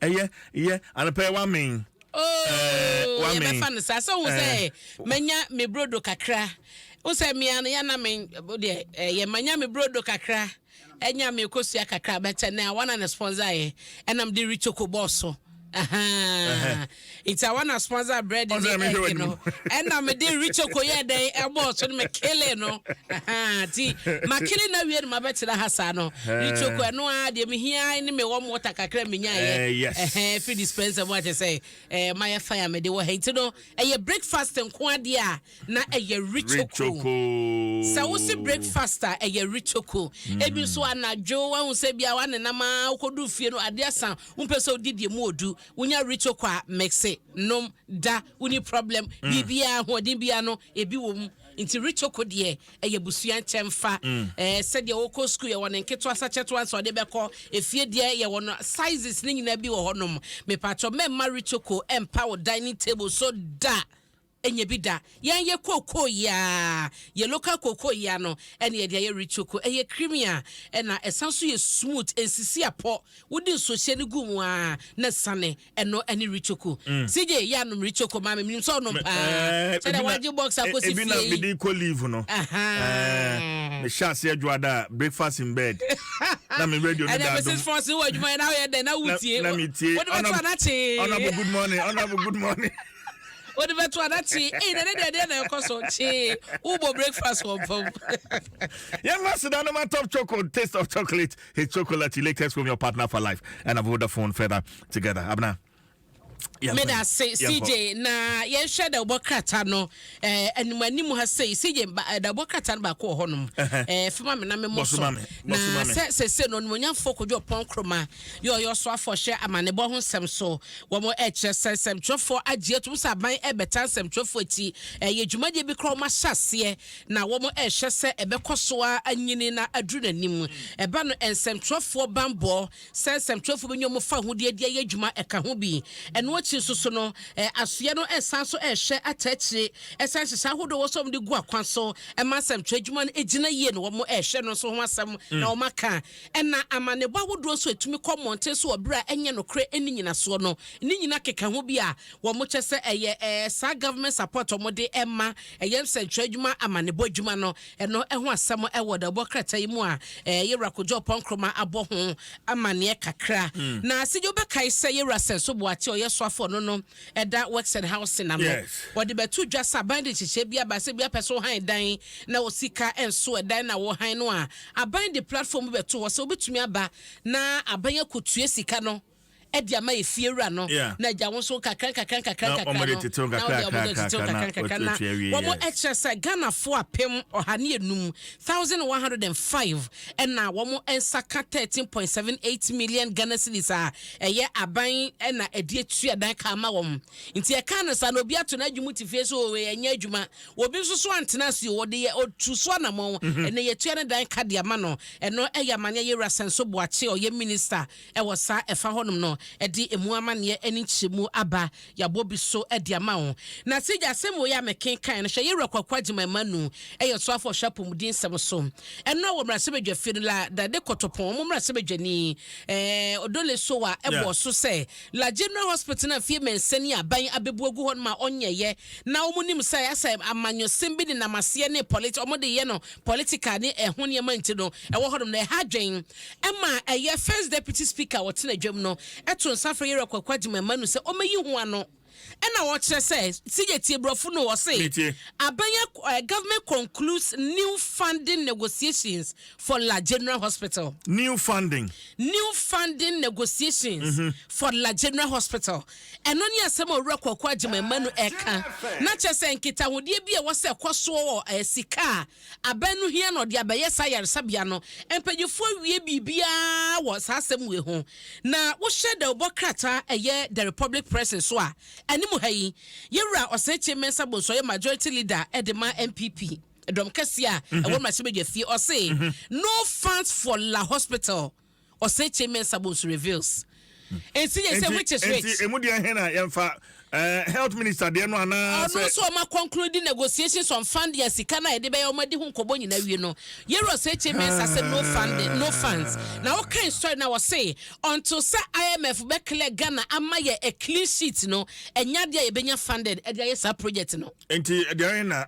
Ɛyɛ yɛ anɔpa yi w'amen. Ooh yɛ bɛ fa no saa sɛ ohun sɛ manya me brodo kakra ohun sɛ mia no yɛ na me deɛ ɛyɛ manya me brodo kakra ɛnya me kosua kakra bɛtɛ na wɔn na na sponsor yɛ ɛnam de richoko bɔɔso. Uh-huh. Uh-huh. Ntsi awa na sponsor bread ne egg no ɛna me de richo ko yɛ dɛn ɛbɔɔ so no me kele no ahaa ti ma kele na wie no ma bɛ tena ha saa no richo ko ɛno a deɛ me hia ne me wɔm water kakra me nya yɛ ɛhɛn eh, free dispenser mu akyɛ sɛ ɛɛ eh, ma yɛ fan a me de wɔ ha nti no ɛyɛ breakfast nko adeɛ a na ɛyɛ richo ko sɛ wo se breakfast a ɛyɛ richo ko mm. ebi nso anadwo wɔn sɛ bia wɔn nenam a wɔkɔdu fie no adeɛ san wɔn pɛ sɛ odi deɛ mu odu Wonya rito kɔ a mixe, nom, da, wonni problem, biribiara ahoɔden biara no ebi wɔ mu. Nti rito ko deɛ ɛyɛ abusua nkyɛnfa. Ɛɛ sɛdeɛ wokɔ school yɛwɔ ne nketewa sa kyɛtewa nsa ɔde bɛkɔ. Efie deɛ yɛwɔ no sizes ne nyinaa bi wɔ hɔnom. Mepatwɔ mɛmma rito ko mpa wo dining table so da. Nyɛ bi da. Yɛn yɛ kookoo yeaa. Yɛ local kookoo yea no ɛne yɛde ayɛ Ritsoko. Ɛyɛ creamy a ɛna ɛsan nso yɛ smooth. Ɛnsisi apɔ. Wode nsuohyɛ no gu mu aa na sane. Ɛno ɛne Ritsoko. CJ yɛ anom Ritsoko ma me. Menim sɛ ɔnom paa. Sɛdeɛ wagye box akɔsi fie yi. Ebi na mede kɔ leave no. Mehyɛ aseɛ dwoada a, breakfast in bed. Na me radio no da adom. Ɛnɛ Mrs Forson wɔ adwuma yɛ na woyɛ dɛn na wotie. Na metie. Wode bɛto anakye. Honourable good morning. Honourable good morning. Wode bɛto a na kyee. Ei na ne deɛ deɛ na ɛkɔ so kyee. Wobɔ breakfast wɔ mpa mu. Yɛn aseda no ma top choco taste of chocolate. His chocolate latest from your partner for life. And I've the phone further together. Abna. Meda se CJ na yɛnhwɛ da wobɔ krata no eh, anim anim ha sei CJ eh, da wobɔ krata no baako wɔ hɔnom eh, fema me na memmɔ so na sɛ sɛsɛ no onimonyamfoɔ kɔdwo ɔpɔn kroma ne ɔyɛ ɔsoafoɔ hwɛ amanebɔ ho nsɛm so. Wɔkyerɛ sɛ nsɛmtwerɛfoɔ agye atom sɛ aban rebɛtaa nsɛmtwerɛfoɔ akyi, ɛyɛ dwumadie bi koraa a wɔahyɛ aseɛ na wɔhwɛ sɛ ɛbɛkɔ so ara anyini na aduru n'anim. Ɛba no, nsɛmtwerɛfoɔ bammɔ sɛ nsɛmtwerɛfoɔ bɛnya wɔn fawohodie de ayɛ adwuma ɛka ho bi. Ɛno akyi nso so no, asoeɛ no sane nso hwɛ ata akyire sɛ nhyehyɛeɛ ahodoɔ a ɛwɔ sɛ wɔde gu akwan so ma nsɛmtwerɛ adwuma no gyina yie no, wɔhwɛ ɛno nso ho asɛm na wɔaka. Ɛna amanneɛbɔ ahodoɔ nso a ɛtumi kɔ mmɔnten so wɔ berɛ a ɛnyɛ nokorɛ ɛnni nyinasoɔ no, ne nyina keka ho bi a wɔn kyɛ sɛ ɛyɛ ɛɛ saa government support a wɔn de ma ɛyɛ nsɛnkyerɛ adwuma amanneɛbɔ adwuma no ɛno ɛho asɛm ɛwɔ dawubɔ krataa yi mu a ɛɛ Yɛwura Kojo Ɔpɔn Nkrumah abɔ ho amanneɛ kakra. Na Asedjo bɛkae sɛ Yɛwura Sɛnso Boate a ɔyɛ soafoɔ no no ɛda Works and Housing ano. Yes. Wɔde bɛto dwa sɛ aban de nhyehyɛe bi aba sɛ bi apɛ sɛ wohan dan na wo sika nso ɛdan na wohan no a, aban de platform bi bɛto hɔ sɛ wobɛtumi aba na aban akɔtua sika no de ama efiewura no Yeah. na agya wo nso nkakra nkakra nkakra Na nkakra wɔn de no tetew na nkakra, wɔde wɔn de nkakra, tetew nkakra, nkakra nkakra na na wɔatu awie, wɔn yes. kyerɛ sɛ Ghanafoɔ apem ɔha ne enum thousand one hundred and five ɛna wɔn nsa ka thirteen point seven eight million Ghana cedis a ɛyɛ aban na ɛde atua dan ka ama wɔn. Nti ɛka no saa no, obi ato n'adwuma mu te fie so o, ɛnyɛ adwuma. Obi nso so antena ase o, ɔde yɛ ɔtu so anamɔn. Mhm. Ɛnna yɛtua ne dan ka de ama no. Ɛno ɛyɛ amaneɛ yɛ wura Sɛnso Boakye, ɔyɛ minista ɛwɔ saa ɛfa hɔnom no, ɛde emu amaneɛ ɛne nkyerɛmu aba Yɛabɔ bi so de ama wo. Na sɛ gya asɛm wei a mekenkan no, hwɛ Yɛwura Kwaku Agyemang Mmanu, ɛyɛ ɔsoafoɔ a ɔhwɛ apɔmuden nsɛm so ɛno a wɔ mmarahyɛbadwafie no, la Dade Kotopon, wɔn mmarahyɛbadwani, ɛɛ Odole Sowa bɔɔ so sɛ, la General Hospital no a mfeɛ mmiɛnsa ni aban abɛbu agu hɔ nom a ɔnyɛeɛ na wɔn nim sɛ ayɛ sɛ amanyɔsɛm bi nenam aseɛ ne pɔlit wɔn de yɛ no political ne ɛho nneɛma nti no ɛwɔ hɔ nom na ɛha adwene. ɛma ɛyɛ First Deputy Speaker a ɔtena dwam no to nsa frɛ Yɛwura Kwaku Agyem Amanu sɛ ɔmmɛyi ho ano na ɔkyerɛ sɛ sɛ yɛtie borɔfo no ɔse abɛn eh, government concludes new funding negotiations for La General Hospital. New funding. New funding negotiations mm -hmm. for La General Hospital. Ɛno ne asɛm a owura Kwaku Agyem Amanu ɛka na kyerɛ sɛ nkitahodeɛ bi a ɛwɔ sɛ ɛkɔ soɔ wɔ eh, sika a Aban no hia na ɔde abɛyɛ saa ayaresabea no. Mpanyimfo awie biribiara wɔ saa asɛm wei ho. Na wohyɛ dawubɔ krataa a ɛyɛ The Republic Press nso a, anim ha yi, Yɛwura Ɔsɛnkye Mensah Bonsu ɔyɛ Majority Leader de ma NPP dɔm kɛseɛ a ɛwɔ mmarahyɛbadwafie, ɔse, No funds for La Hospital. Osetie Mensah Bonsu reveals nsi yɛ sɛ which is which. Nti emu deɛ hɛn a yɛnfa eh, health minister deɛ no anaa sɛ. Ɔno nso ɔma kɔnkuru di negotiations on fund yɛn sika no a yɛde bɛyɛ ɔma di ho nkɔbɔ nyinaa wie no. Yɛrɛ Osetie Mensah sɛ no funding no funds na ɔkan story na ɔse until sɛ IMF bɛ clear Ghana ama yɛ a clean sheet no ɛnyɛ adeɛ a yɛbɛnya funded ɛde ayɛ saa project no. nti deɛ na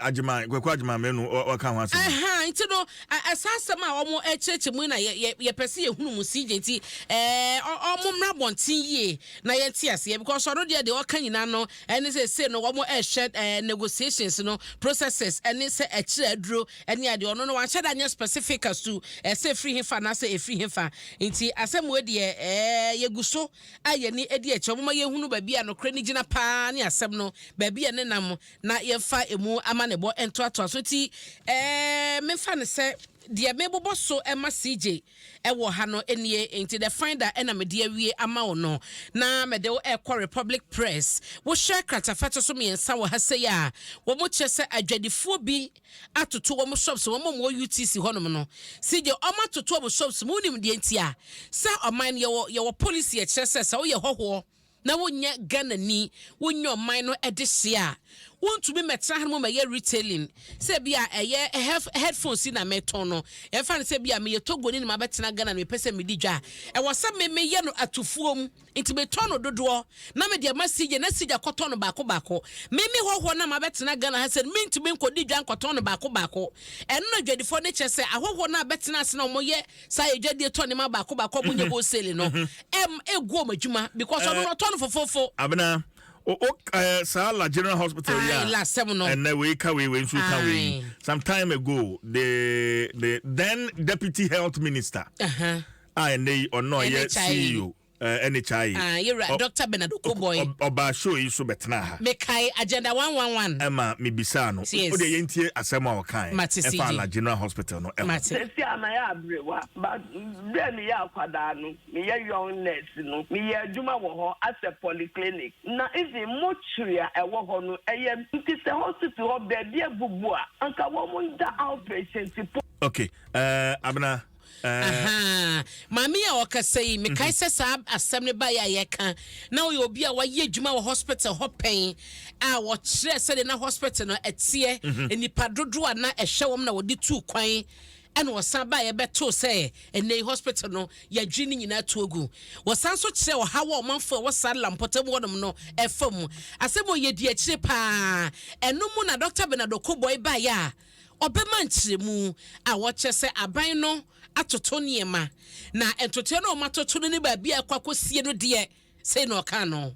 agyeman kwaku agyeman mmienu ɔka ho asɛm. ɛhan nti no ɛsa asɛm a wɔn ɛkyerɛkyerɛ mu na yɛ yɛpɛ sɛ yɛhunu mu si gye nti ɛɛ wɔn mmra bɔnten yie na yɛn ti aseɛ because ɔno deɛ deɛ ɔka nyinaa no ɛne sɛ se no wɔn ɛhwɛ ɛɛ negotiations no processes ɛne sɛ ɛkyerɛ aduro ɛne adeɛ ɔno no wanhyɛ da nyɛ specific asu ɛsɛ efiri hefa na sɛ efiri hefa nti asɛm wo deɛ ɛɛ yɛgu so a yɛn ani di akyire. Momma yɛnhunu baabi a nokorɛ no gyina pa ara ne asɛm no, baabi a ɛne nam, na yɛmfa ɛmu amanneɛbɔ ntoatoa so. Enti memfa no sɛ deɛ mebobɔ so ma CJ wɔ ha no nie. Enti the finder na mede awie ama wo no, na mede wo rekɔ Republic Press. Wohwɛ kratafa to so mmiɛnsa wɔ ha sei a, wɔkyerɛ sɛ adwadifoɔ bi atoto wɔn shops wɔn a wɔwɔ UTC hɔnom no si deɛ wɔn atoto wɔn shops mu wonim deɛ nti a sɛ ɔman no yɛwɔ yɛwɔ policy a ɛkyerɛ sɛ sɛ woyɛ hɔhoɔ na wonyɛ Ghana ni wonyɛ ɔman no ɛde hyeɛ a wontumi mɛtena ha no mu mɛyɛ retailing sɛ bi a ɛyɛ headphones yi na mɛtɔn no ɛmfa no sɛ bi a meyɛ Togo ni na mabɛtena Ghana no mepɛ sɛ medi dwa a ɛwɔ sɛ me meyɛ no atufuo mu Nti metɔ no dodoɔ na mede ma Sigya na Sigya kɔtɔ no baako baako. Me me hɔhoɔ no a mabɛtena Ghana ha sɛn mentumi nkɔdi dwa nkɔtɔn no baako baako. Ɛno na dwadifoɔ no kyerɛ sɛ ahɔhoɔ no a bɛtena ase na wɔyɛ saa adwadie tɔ nneɛma baako baako a wɔnyɛ wholesale no ɛm ɛgu wɔn adwuma because ɔno no ɔtɔ no fofofo. Abena, o o eh, saa La General Hospital yi a Ae, lasɛm no. ɛnɛ wei ka wei wei nso ka wei Ae. some time ago the the then deputy health minister Aha. a ɛnnɛ yi ɔno a ɔyɛ NHIA CEO eh, NHIA, Ah, yɛwura ɔ- Dr. Bernard Okoboy. ɔ- ɔbaa show yi so bɛtenaa ha Mekae agenda 111. ɛma mebisaa no Yes. wodeɛ yɛntie asɛm a ɔkae Mate ɛfa CD. ala general hospital no ɛho Mate. Sɛsi a mayɛ aberewa, but berɛ a meyɛ akwadaa no, meyɛ young nurse no, meyɛ adwuma wɔ hɔ as a polyclinic. Na even mortuary a ɛwɔ hɔ no, ɛyɛ nti sɛ hospital hɔ baabi abubu a, anka wɔn da outpatient po. ok eh, abena Ahaa. Maame yi a ɔrekasa yi, mekae sɛ saa asɛm no baeɛ a yɛreka, na ɔyɛ obi a wayɛ adwuma wɔ hospital hɔ pɛn a ɔkyerɛɛ sɛdeɛ na hospital no teɛ, nnipa dodoɔ a na ɛhwɛ wɔn na wɔde tuu kwan, ɛnna ɔsan baeɛ bɛtoo sɛ ɛnnɛ yi hospital no, yɛadwiri ne nyinaa atu agu. Ɔsan nso kyerɛɛ ɔhaw a ɔmanfoɔ a ɛwɔ Sarla mpɔtam hɔnom no refa mu. Asɛm a ɔyɛ dii akyire pa ara. Ɛno mu na Dɔkta Bernard Okoboi baeɛ a, Ɔbɛma nkyerɛmu a wɔkyerɛ sɛ aban no atoto nneɛma, na ntotoeɛ no a wɔatoto no ne baabi a ɛkɔ akɔsie no deɛ, sei na ɔkaa no.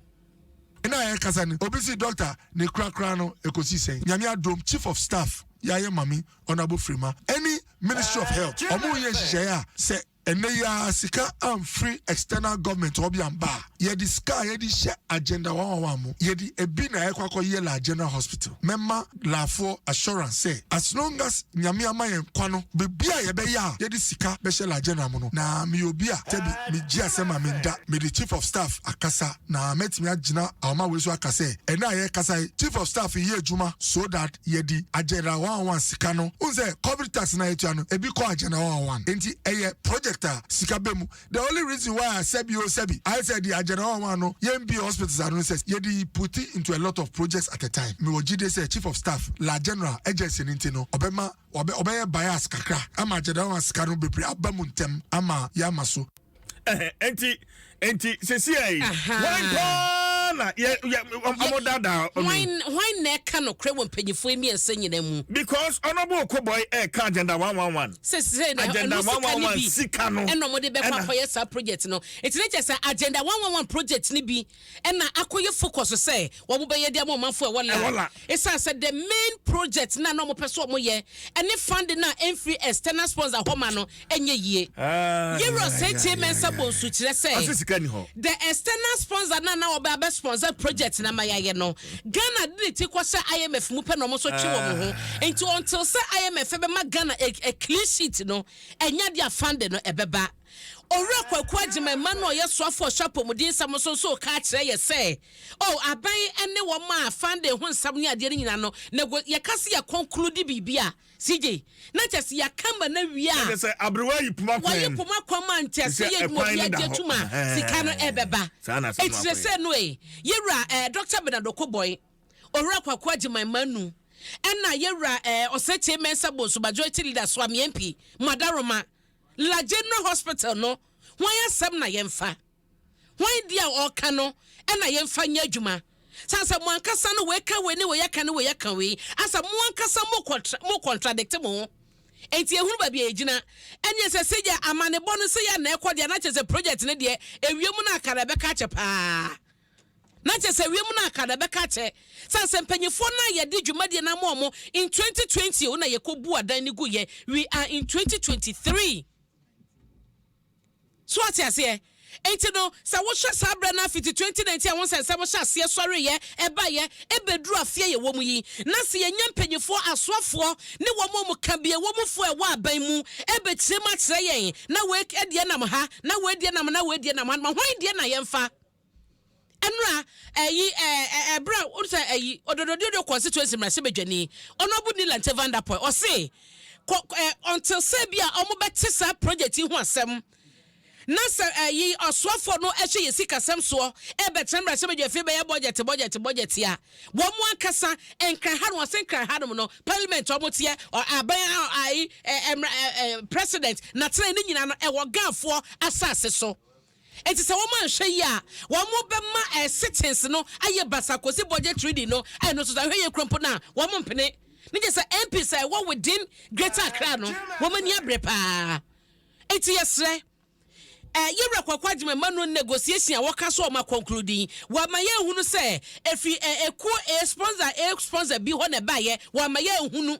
Ɛna a yɛrekasa no, obi se Dɔkta ne korakoraa no ɛkɔsi sɛn? Nyame adom, Chief of Staff Yaye Mame Honourable Frema ɛne Ministry of Health, wɔn reyɛ nhyehyɛeɛ a sɛ Ɛnɛ yi ara sika amfiri external government hɔ bi amba a, yɛde sika a yɛde hyɛ agenda wawawa mu, yɛde ɛbi na ɛkɔ akɔyɛ Laa General Hospital. Mɛma Laafoɔ assurance sɛ, as long as Nyame ama yɛn nkwa no, biribi a yɛbɛyɛ a yɛde sika bɛhyɛ Laa General mu no, na meyɛ obi a dabi megye asɛm a menda, mede Chief of Staff akasa, Na mɛtumi agyina ahoma wei so aka sɛ, ɛnnɛ a yɛrekasa yi, Chief of Staff reyɛ adwuma so that yɛde Agenda 111 sika no, wohu sɛ Corporate Tax no a yɛtua no, ebi kɔ Agenda 111. Enti ɛyɛ project a sika ba mu. The only reason why a sɛbi o sɛbi, ayɛ sɛ yɛde Agenda 111 no yɛmbue hospitals ano ne sɛ, yɛde put into a lot of projects at a time. Mewɔ gyidie sɛ Chief of Staff, la General Agency no nti no, ɔbɛma, ɔbɛyɛ bias kakra ama Agenda 111 sika no bebree aba mu ntɛm ama yɛama so. Enti enti sesia yi wɔn paa na yɛ yɛ wɔn dada ɔno. Wɔn wɔn na ɛka no korɛ wɔ mpanyinfoɔ mmiɛnsa nyinaa mu. Because honourable Okoboy ɛka eh, agenda one one one. Sese na agenda one one one sika no. Ɛna wɔn de bɛkɔ akɔyɛ saa project no. Eti ne kyɛ sɛ agenda one one one project ni bi. Ɛna akɔ yɛ focus sɛ wɔn bɛyɛ de ama ɔmanfo a ɛwɔ la. Esan sɛ the main project no a na wɔn pɛ sɛ wɔn yɛ ɛne funding no a ɛnfiri external sponsor hɔ ma no ɛnyɛ yie. Yewura Setsie Mensah Bonsu kyerɛ sɛ the external sponsor no a na wɔbɛ abɛ sponsor project no ama yɛayɛ no, Ghana de ne ti kɔ hyɛ IMF mu pɛ na wɔn nso twe wɔn ho. Nti until sɛ IMF bɛma Ghana a clean sheet no, ɛnyɛ adeɛ a funding no ɛbɛba. Owura Kwaku Agyemang mma no a ɔyɛ soafo a ɔhwɛ apɔmuden nsɛm so nso reka akyerɛ yɛ sɛ, Oh, aban ne wɔn a funding ho nsɛm ne adeɛ no nyina no, nego, yɛka se yɛ conclude biribi a, CJ, na nkyɛ se yɛaka ma no awie a, wɔaye poma kwan ma nkyɛ se yɛ adwuma obiara gye atum a, sika no ɛbɛba. Enti sesei no ee, Yewura eh, Doctor Bernard Okoboy, Owura Kwaku Agyemang mma nu, ɛna Yewura eh, Osekyere Mensah Bonsu Majority Leader Suame MP, Mada Roma, La General Hospital no hwan asɛm na yɛmfa? Hwan deɛ a ɔreka no na yɛmfa nyɛ adwuma? Sɛ sɛ mo ankasa no wei ka wei ne wei aka ne wei aka wei, asɛ mo ankasa mo contra, mo contradict mo ho. Enti ehunu baabi a yɛgyina. Ɛneɛ sɛ sɛ yɛ amanebɔ no sɛ yɛ na ɛkɔ deɛ na kyerɛ sɛ project no deɛ ɛwie mu no akara ɛbɛka akyɛ paa. Na kyerɛ sɛ wiem no aka na ɛbɛka akyɛ sane sɛ mpanyinfoɔ no a yɛde dwumadie no ama wɔn in 2020 o na yɛkɔ bu adan no gu yɛ we are in 2023 so ate aseɛ nti no sɛ wohwɛ saa berɛ no afiti 2019 a wo sɛ nsɛm hyɛ aseɛ sɔreyɛ ɛbayɛ ɛbɛduru afeɛ yɛ wɔ mu yi na sɛ yɛnya mpanyinfoɔ asoafoɔ ne wɔn a wɔn ka bie wɔ mu foɔ ɛwɔ aban mu ɛbɛkyerɛ mu akyerɛ yɛn na wei ɛdeɛ nam ha na wei deɛ nam na wei deɛ nam ha ma hwan deɛ na yɛmfa Ɛnora ɛyi ɛɛ ɛbrɛ a wɔn sɛ ɛyi ɔdɔdɔdɔdɔ constituency mmarahyɛ badwani ɔnɔbu ni lante van der poel ɔse kɔ ɛɛ ɔnte sɛ bi a wɔn bɛte saa project yi ho asɛm na sɛ ɛyi ɔsoafoɔ no ɛhyɛ yɛ sikasɛm soɔ ɛbɛtena mmarahyɛ badwa afei bɛyɛ bɔgyɛte bɔgyɛte bɔgyɛte a wɔn ankasa nkran ha no ɔse nkran ha nom no parliament wɔn teɛ aban a ɛyi ɛɛ ɛɛ president na tena ne nyinaa no ɛwɔ gaafoɔ asase so. Enti sɛ wɔanhwɛ yie a, wɔbɛma sitins no ayɛ basaa kɔsi budget reading no, ɛno nso sɛ ahwɛyie kura mpo no a, wɔmpene. Ne gye sɛ MPs a ɛwɔ within Greater Accra no, wɔn ani abere pa ara. Enti yɛsrɛ eh, Yɛwura Kwaku Agyeman ma no negotiation a wɔka so a wɔn akɔnklude yi, wɔama yɛahunu sɛ ɛfiri eh, ɛkuo eh, sponsor eh, sponsor bi hɔ na ɛbaeɛ, wɔama yɛahunu.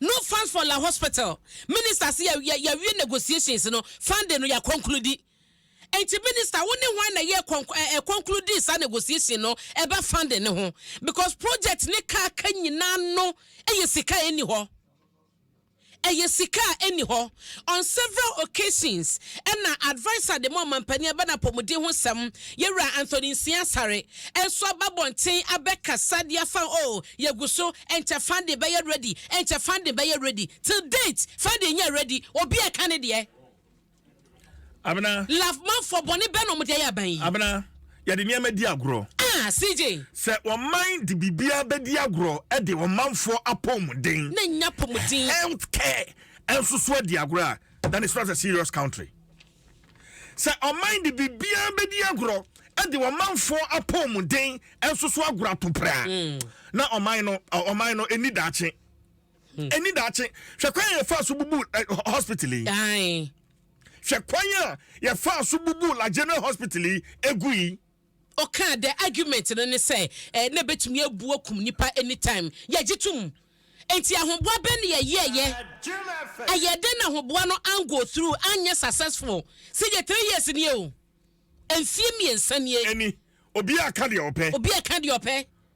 No funds for la hospital minister se ya ya wie negotiations no funding no ya concludi nti minister wo ne hwan na yɛ ɛ concludi saa negotiation no ɛba funding no ho because project ne ka ka nyinaa no ɛyɛ sika a ɛni hɔ ɛyɛ sika a ɛni hɔ. On several occasions na adviser de ma Ɔmanpanin aba no apɔmuden ho sɛm, Yɛwura Anthony Nsia Asare, nso aba abɔnten abɛkasa de afa ho, oh, yɛgu so, nkyɛ funding bɛyɛ ready, nkyɛ funding bɛyɛ ready, till date, funding nyɛɛ ready, obi a ɛka ne deɛ. Abena. Lafmanfoɔ, bɔne bɛn na wɔn de ayɛ aban yi? Abena, yɛde nneɛma di agorɔ. Ah, CJ. Sɛ ɔman de biribiara bɛdi agorɔ de ɔmanfoɔ apɔmuden. Na nnya apɔmuden. Health care. ɛnso so adi agorɔ a then it's not a serious country sɛ ɔman de biribiara bɛdi agorɔ de ɔmanfoɔ apɔmuden ɛnso so agorɔ ato praa hmm. na ɔman no ɔman no ɛni daakye hmm. ɛni daakye hwɛ kwan yɛ fa so bubu eh, hospital yi hwɛ kwan a yɛfa so bubu la general hospital yi egu yi. Ɔkaa dɛ argument no ne sɛ eh, na ebetumi ebu akum nnipa anytime. Yɛgye tom. Enti ahoboa bɛn na yɛyɛeɛ? Ɛyɛɛ dɛn na ahoboa no ango through, anyɛ successful? Sɛ yɛ three years nie o, mfeɛ mmiɛnsa nie. Ɛni, obiara ka deɛ ɔpɛ. Obiara ka deɛ ɔpɛ.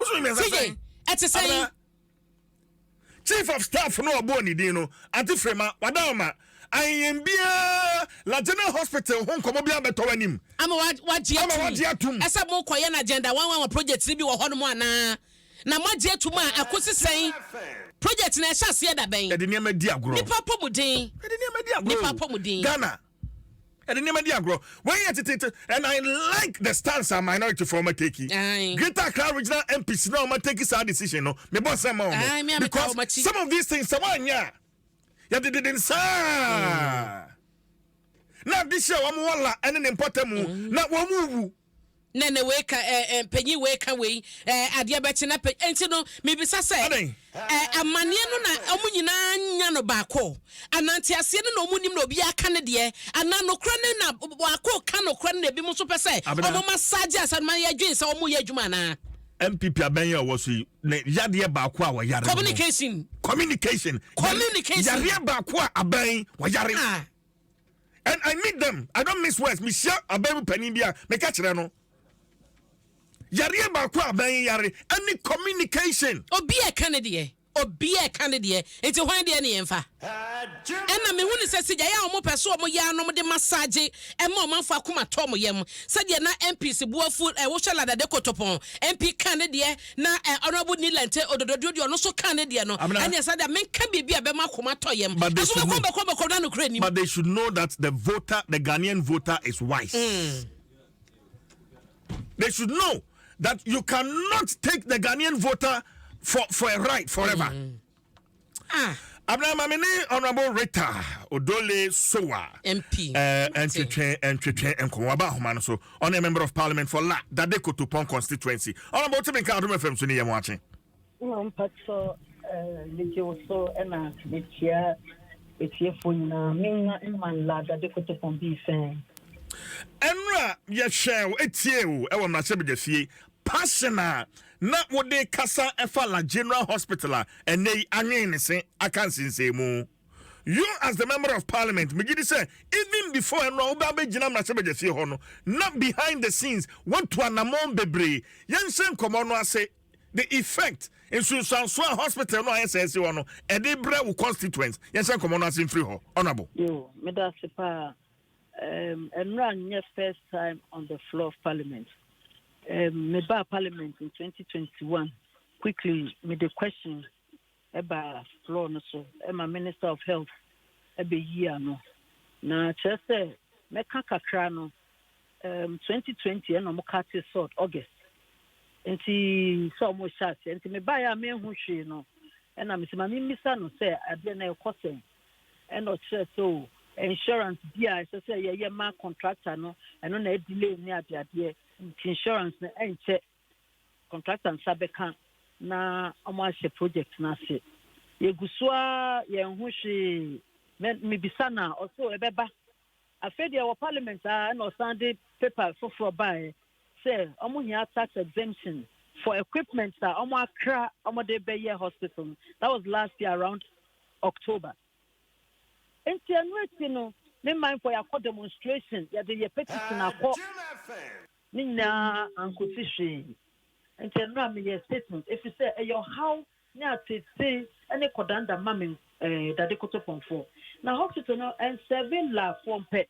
wosono mmiɛnsa sɛn ɛte sɛn chief of staff no ɔbɔɔ ne din no ante firima wada ɔma ayɛyɛn biara lajana hospital ho nkɔmɔ bi abɛtɔ w'anim ama wagye atum ɛsɛ mo kɔyɛ no agenda wanwanwa project no bi wɔ hɔ nom anaa na moagye atum a ɛkɔsi sɛn project no ɛhyɛ aseɛ da bɛn ɛde nneɛma di agorɔ nipa apɔmuden ɛde nneɛma di agorɔ nipa apɔmuden ghana ɛde nneɛma di agorɔ wei yɛ teteete and i like the stance a minority fo ɔma take greater accra regional mps na ɔma take saa decision no mebɔ nsɛm ma ɔmo because some of these things sɛ wɔanyɛ a yɛde dede nsaa na ade hyɛ wɔn wɔ la ɛne ne mpɔtamu mm. na wɔn wu Nɛ nɛ wei ka ɛɛ ɛɛ panyin wei ka wei ɛɛ adeɛ bɛkye na panyin nti no mibisa sɛ ɛɛ amaneɛ no na ɔmo nyinaa nya no baako anaa nteaseɛ no na ɔmo nim na obiara ka ne deɛ anaa nokorɛ no na baako ka nokorɛ no na ebinom nso pɛ sɛ ɔmo massage asɛm no ma yɛ dwen sɛ ɔmo yɛ adwuma anaa. NPP abɛn yi a ɔwɔ so yi ne yadeɛ baako a wɔyare no no. Communication. Communication. Communication. Yareɛ baako a abɛn wɔyare. Ah. and I meet them I don't miss words mehyia aban mu panin bi a meka kyerɛ no yareɛ baako a aban yi yare ɛne communication. Obi a ɛka ne deɛ obi a ɛka ne deɛ nti hwan deɛ ne yɛmfa ɛna mehu ne sɛ sigyae a wɔn pɛ so wɔn yɛ anom de masaagye ɛma ɔmanfo akoma tɔ wɔn yam sɛdeɛ na MPs boafo ɛwohwɛ ladade kotopɔn MP ka ne deɛ Na eh, Honourable Ni Lente Ododo deɛ ɔde ɔno nso kaa ne deɛ no, Amina. ɛneɛ saa deɛ menka biribi a ɛbɛma akoma atɔ yam. But they Ɛso should bɛkɔ know. bɛkɔ bɛkɔ na nokorɛ nnim. But they should know that the voter, the Ghanaian voter is wise. They should know that you cannot take the Ghanaian voter for, for a ride forever. Abena ma me ne Honourable Rita Odole Sowa MP ntwetwe ntwetwe nkɔmɔ aba ahoma no so ɔne Member of Parliament for La Dade Kotopon constituency Honourable Timi Nka Adom FM so ne yɛn wakye. Wɔ mpatɔ megye wo so na mekyia atiefo nyinaa menwa mma La Dade Kotopon bii sɛn. Ɛnura yɛhwɛ wo etie o ɛwɔ mmarahyɛbadwafie Passion a na wode rekasa fa La General Hospital a ɛnnɛ yi anwen ne se aka nsensɛnmu. You as the member of parliament, megye di sɛ even before ɛno a wobɛ abɛgyina mmarahyɛbadwafie hɔ no, na behind the scenes woatu anammɔn bebree. Yɛnhyɛ nkɔmmɔ no ase, the effect, nsunsuansoɔ a hospital no a ayɛ sɛɛ si hɔ no, ɛde brɛ wo constituents. Yɛnhyɛ nkɔmmɔ no ase mfiri hɔ, Honourable. Yoo, meda ase paa. Um, Enra nyɛ first time on the floor of parliament. Um, me ba parliament in 2021. Quickly, me the question about floor no so. Emma Minister of Health ebe yi ano. Na kyerɛ sɛ mɛka kakra no um, 2020 ɛna ɔmo ka te sort August. Nti sɛ ɔmo hyɛ aseɛ. Nti me ba yɛ a mehu hwee no ɛna me sɛ ma me mmisa no sɛ adeɛ na ɛkɔ sɛn. Ɛna ɔkyerɛ sɛ o insurance bi a ɛsɛ sɛ yɛyɛ ma contractor no ɛno na ɛdelay ne adeadeɛ nti insurance no ɛnkyɛ contractor nsa bɛka na wɔn ahyɛ project no ase yɛgu so a yɛn ho hwee mebisa no a ɔso ɛbɛba Afei deɛ wɔ parliament aa ɛna ɔsan de paper foforɔ baaɛ sɛ ɔmo hia tax exemption for equipments a ɔmo akra ɔmo de bɛ yɛ hospital no that was last year around October nti ɛno akyi no me man fɔ yakɔ demonstration yɛde yɛ petition akɔ ne nyinaa ankosi hwee nti ɛno a meyɛ statement efi sɛ ɛyɛ ɔhaw ne atsetsee ne kɔdanda ma me dade kotopɔnfoɔ na hospital no nsɛve laafoɔ mpɛ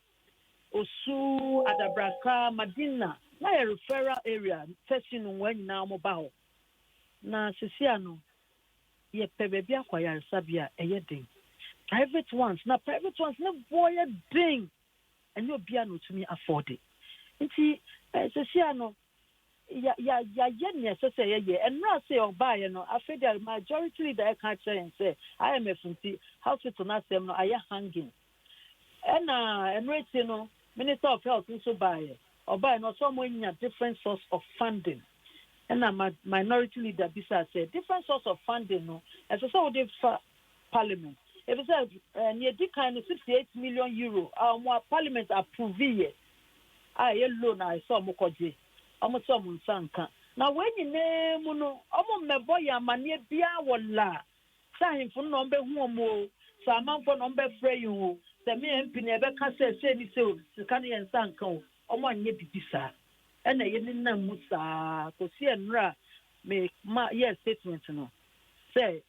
osu adabraka madina na yɛ referral area fɛsi no nwaa nyinaa ɔmo ba hɔ na sisia no yɛ pɛ baabi akɔ ayaresabea ɛyɛ den private ones na private ones ne boɔ yɛ den ɛnyɛ obia na otumi afɔɔde nti sisia no ya ya yayɛ nea ɛsɛ sɛ yɛyɛ. Ɛnora ase ɔbaeɛ no, afei deɛ majority leader ɛka akyerɛ yɛn sɛ IMF nti hospital no asɛm no ayɛ hanging. Ɛna ɛno akyi no minister of health nso baeɛ, ɔbaeɛ no ɔsɛ wɔn anya different source of funding. Ɛna ma minority leader bisaa sɛ different source of funding no ɛsɛ sɛ wode fa parliament efisɛ eh, nea edi kan no 68 million euro a wɔn a parliament approve yɛ a ɛyɛ loan a ɛsɛ wɔn kɔgye, wɔn sɛ wɔn nsa nka. Na wei nyinaa mu no, wɔn mmɛbɔ yɛn amaneɛ biara wɔ la, sɛ ahemfo no na wɔn bɛhu wɔn o, sɛ amanfoɔ na wɔn bɛfrɛ yɛn o, sɛ me MP na yɛbɛka sɛ sei ne sei o, sika no yɛn nsa nka o, wɔn anyɛ biribi saa. Ɛna ɛyɛ ne nam mu saa kɔsi ɛnora a me ma yɛɛ statement no sɛ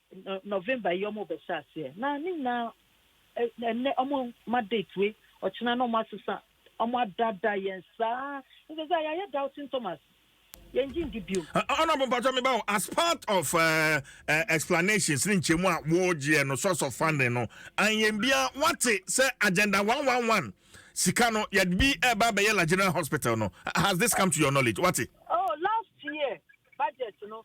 November yi wɔn rebɛhyɛ aseɛ. Na ne nyinaa ɛnɛ ɔmo ma date wei ɔkyena na ɔmo asesa ɔmo adada yɛn saa nso sɛ yɛayɛ doubting Thomas yɛn gye ndi biom. ɔnabɔ mpatwa mi ba o as part of uh, uh, explanations ne nkyɛmu a wɔregyeɛ no source of funding no anyɛn bia wate sɛ agenda one one one sika no yɛde bi ɛba bɛyɛ la general hospital no has this come to your knowledge wate. oh last year budget no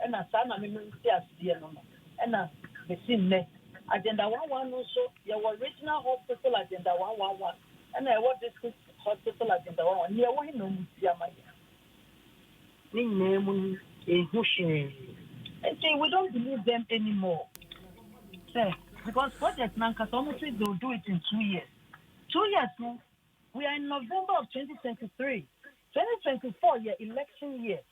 Ɛna saa na mema nteaseɛ no no ɛna bɛsi nnɛ. Agenda one one no nso yɛwɔ Regional Hospital Agenda one one one ɛna yɛwɔ District Hospital Agenda one one. Nea ɛwɔ he na ɔmo si ama yɛn? Ne nyinaa mu no yɛnhu hwee. Nti we don't believe them anymore sɛ because project no ankasa ɔmo se they will do it in two years. Two years no we are in November of twenty twenty three, twenty twenty four yɛ election year.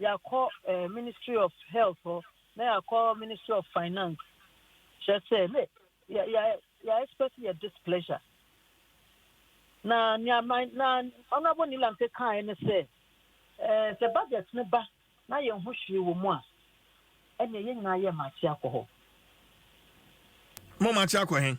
Yɛakɔ eh, Ministry of Health hɔ, na yɛakɔ Ministry of Finance. Kyerɛ sɛ, ne yɛ yɛ yɛ expect yɛ displeasure. Na nea my na Honourable Nilante kaeɛ ne sɛ, eh, sɛ budget no ba na yɛn ho hwee wɔ mu a, ɛnneɛ yɛn nyinaa yɛ mate akɔ hɔ. Mo mate akɔ he?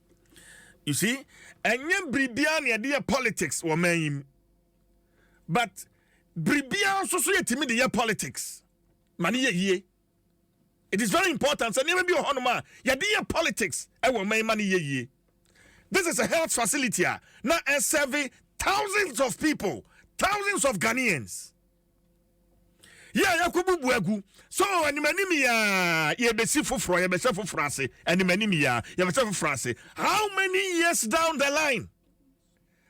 you see ɛnyɛ biribiara na yɛde yɛ politics wɔ man yi mu but biribiara nso so yɛtumi de yɛ politics ma ne yɛ yie it is very important sɛ nneɛma bi wɔ hɔnom a yɛde yɛ politics ɛwɔ man yi ma ne yɛ yie this is a health facility a na ɛsɛve thousands of people thousands of ghanaians yɛ a yɛakɔbubu agu so animanim yi a yɛbɛsi foforɔ yɛbɛhyɛ foforɔ ase animanim yi a yɛbɛhyɛ foforɔ ase how many years down the line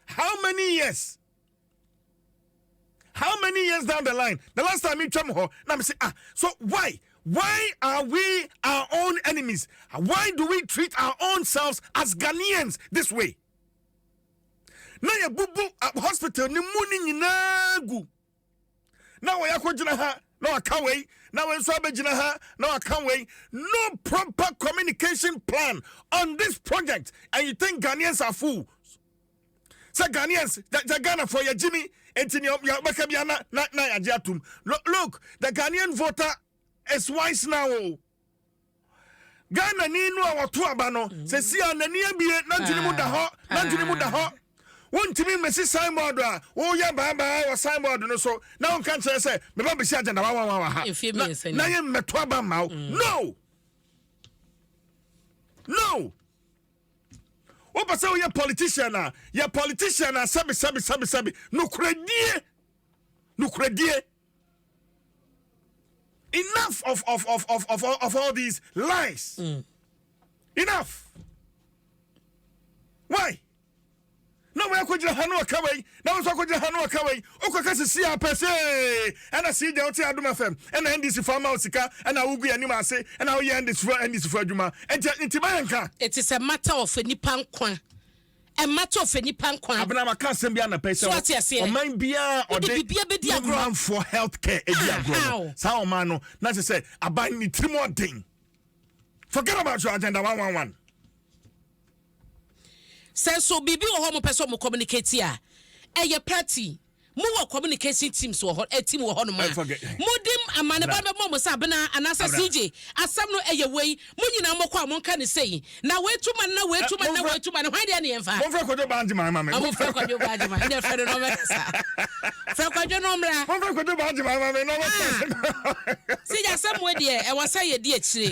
how many years how many years down the line the last time metwam hɔ na mese ah so why why are we our own enemies why do we treat our own selves as ghanaians this way na yɛbubu hospital no mu no nyinaa gu na wɔyɛ akɔgyina ha na waka wei na wei nso abɛgyina ha na waka wei no proper communication plan on this project and you think ghanaians are fools sɛ ghanaians the ghana for yɛ gyimi nti nea yɛbɛka bia na na na yɛagye atom look the ghanaian voter is wise now o. Oh. Ghanani no a wɔto aba no seesei a n'ani abue n'adwene mu da hɔ n'adwene mu da hɔ wontumi mmesi signboard a woyɛ baabaa wɔ signboard no so na wonka nkyerɛ sɛ meba besi agenda wawawa wɔ ha na yɛ mmɛto aba mma wo mm. no no wopɛ sɛ woyɛ politician a yɛ politician a sɛbi sɛbi sɛbi sɛbi nokoradie nokoradie Enough of, of, of, of, of, of all these lies. Mm. Enough. Why? na wɔn akɔgyina ha no ɔka wei na wɔn nso akɔgyina ha no ɔka wei okɔka sisi apɛ se ɛna si gya ɔte adum afɛm ɛna ndc fo ama osika ɛna awogu yɛn anim ase ɛna awoyɛ ndc fo ndc fo adwuma ɛnti nti ba yɛn ka. it is a matter of nipa nkwa Mma to ɔfɛ nipa nkwa. Abena waka asɛm bi anapa yi sɛ ɔman biara ɔde ne manfoɔ health care edi ah, agorɔ no saa ɔman no na kyerɛ sɛ aban ne tirim ɔden forget about your agenda one one one. sɛ nso biribi wɔ hɔ mo pɛ sɛ ɔmo communicate a ɛyɛ party Mo wɔ communication teams wɔ hɔ, eh, team wɔ hɔ nom a. Ɛnfa kɛ. Mo de amanebɔ no bɛ bɔ mo sɛ Abena anaa sɛ CJ. Asɛm no ɛyɛ wei. Mo nyinaa mo kɔ a mo nka no sei. Na wei tu ma no na wei tu ma no na wei tu ma no. Hwan deɛ ne yɛn fa? Monfrɛ Kwadwo Baagyeman ma me. Ɔmo frɛ Kwadwo Baagyeman. Ɛnna frɛ no na ɔmɛ kasa. Frɛ Kwadwo na ɔmmra. Monfrɛ Kwadwo Baagyeman ma me na ɔmɛ kasa. Ah, CJ asɛm wei deɛ ɛwɔ sɛ yɛ di akyire.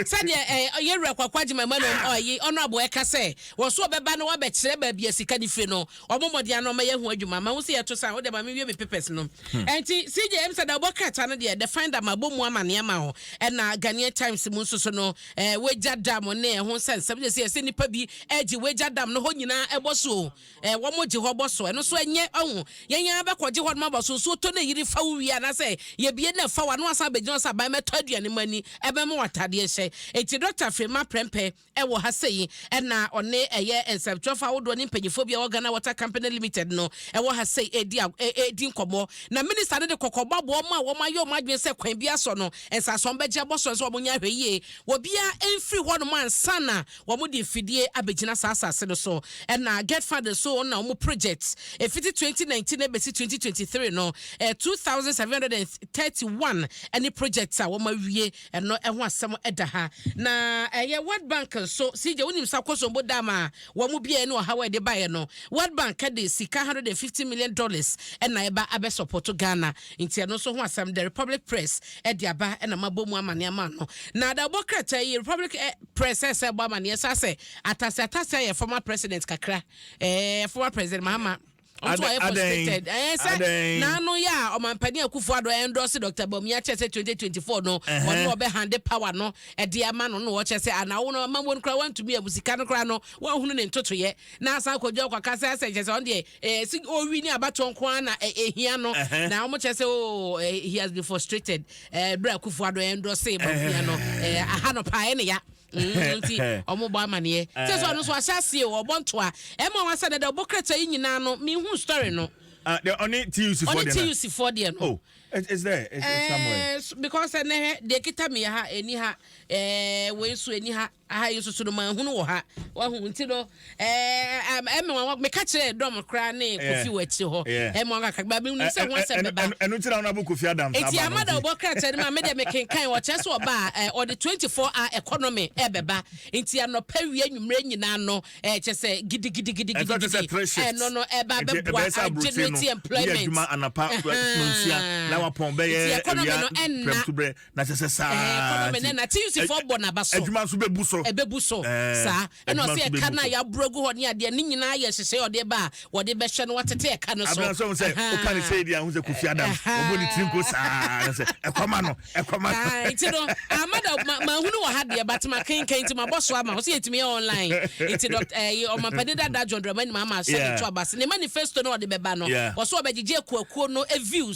Sɛ deɛ eh, yɛwura Kwaku Agyeman Emmanuel, ɔyi, Honourable ɛka sɛ, wɔn so ɔbɛba na wɔabɛkyerɛ baabi a sika no firi no. wɔn mmɔden ano ɔma yɛn ho adwuma ma ho sɛ yɛto san wode ma me wie me papers no hmm. ɛnti CJ m sɛ da wobɔ krataa no deɛ the finder ma bɔ mu ama ne ama ho ɛna Ghanaian Times mu nso so no eh, wagya dam ne ɛho sɛ nsɛm sɛ yɛsɛ nipa bi agye eh, wagya dam no hɔ nyinaa ɛbɔ so eh, wɔn gye hɔ bɔ so ɛno so ɛnyɛ ɔho yɛn yɛn abɛkɔgye hɔ no ma bɔ so nsuo tɔ na yiri fa wo wie anasɛ yɛbie na fa wa no asan abɛgyina sɛ aban mɛtɔ aduane mu ani ɛbɛma watadeɛ hyɛ eti dɔkta firi ma prɛmpɛ Ɛwɔ ha sɛ yi na ɔne ɛyɛ nsɛmtwerɛfoɔ ahodoɔ ne mpaninfoɔ bi a ɛwɔ Ghana Water Company Limited no ɛwɔ ha sɛ yi redi ag redi nkɔmmɔ. Na Minister no de kɔkɔbɔ abɔ wɔn a wɔayɛ wɔn adwene sɛ kwan biara so no nsase wɔn bɛgye abɔ so no sɛ wɔnyɛ ahwɛ yie obiara mfiri hɔnom ansa na wɔde mfidie abɛgyina saa asase no so. Ɛna Gert Fund nso wɔn na wɔn project ɛfiti twenty nineteen ɛbɛsi twenty twenty three no ɛyɛ two thousand seven hundred and thirty one ɛne projects a wɔawie. Ɛno ho asɛm da ha. Na ɛyɛ World Bank nso, CJ, wonim sɛ akosombo dam a wɔn biaeɛ ne ɔhaw a ɛde baeɛ no, World Bank de sika 150 million dollars na ɛba abɛsɔpɔto Ghana. Nti ɛno nso ho asɛm, The Republic Press de aba na mabɔ mu amaneɛ ama no. Na da ɛbɔ krataa yi, Republic Press ɛsan ɛbɔ amaneɛ saa sɛ, atase atase ayɛ former president kakra, ɛɛ former president Mahama. Ɔnso wayɛ postulated ɛɛ sɛ n'ano yɛ a ɔmampanin Akufo-Addo ɛndɔɔse Doctor Bawumia kyɛ sɛ 2024 no ɔno na ɔbɛhande power no ɛde ama no na ɔkyɛ sɛ ana wo no ama wɔn koraa wɔntumi abu sika no koraa no wɔahunu ne ntotoyɛ na asan kɔdwa ɔkɔ kasa sɛ kyɛ sɛ ɔno deɛ ɛɛ si owi ne abatoɔ nko ara na ɛhia no na wɔn kyɛ sɛ oo he has been frustrated ɛɛ bere Akufo-Addo ɛndɔɔse Bawumia no ɛɛ aha no paa ɛne ya. Mm, nti ɔmo bɔ amaneɛ sɛ sɛ ɔno so ahyɛ aseɛ o ɔbɔ ntoa ɛma wasa dada ɔbɔ krata yi nyinaa no mehu story no ah, ɔne tuc fɔ deɛ tuc fɔ deɛ no oh, is there is, is somewhere eh, because ɛnɛ hɛ deɛ kita mi ha ɛni ha ɛɛ eh, wei so ɛni ha aha yi nso so no maa hunu wɔ ha wahu nti no Ɛɛ, ɛɛ, ɛmɛ wɔn meka kyerɛ dɔm koraa ne kofi wɔ akyire hɔ. Ɛmɛ wɔn kakra ba mi nu sɛ ho asɛm bɛba. Ɛnu ti na wɔn abɔ kofi adam saa ba no. Eti amada ɔbɔ krataa no mu a mi deɛ mi kenkan ɔkyerɛ sɛ ɔba a ɛɛ ɔde twenty four hour economy ɛbɛba nti anɔpa wia nwumire nyinaa no ɛɛ kyɛ sɛ gidigidigidigidi ɛno no ɛba bɛboa agyinati employment. Adwuma anapa nsia na wapɔn bɛyɛ ɛwia pɛrɛmtubrɛ na kyɛ sɛ saa. Ɛɛ economy no ɛna ti yusufoɔ bɔ n'aba so. Adwuma nso bɛ bu so. Ɛbɛ bu so saa ɛna ɔsɛ ɛka no a yɛaboro agu hɔ ne adeɛ ne nyinaa yɛ nhyehyɛe ɔde ba a wɔde bɛhyɛ no watete ɛka no so abena sɛ woka ne sɛi deɛ ahu sɛ kofi adam ɔbɔ ne tiri nko saa na sɛ ɛkɔma no ɛkɔma no nti no amada mahunu wɔ ha deɛ batema kenkan nti mabɔ so ama wo sɛ yɛtumi yɛ online nti eh, ɔmampani dada john dramani ma ama sɛ ne to abase ne manifesto no ɔde bɛba no wɔ so ɔbɛgyegye akuakuo no eh, views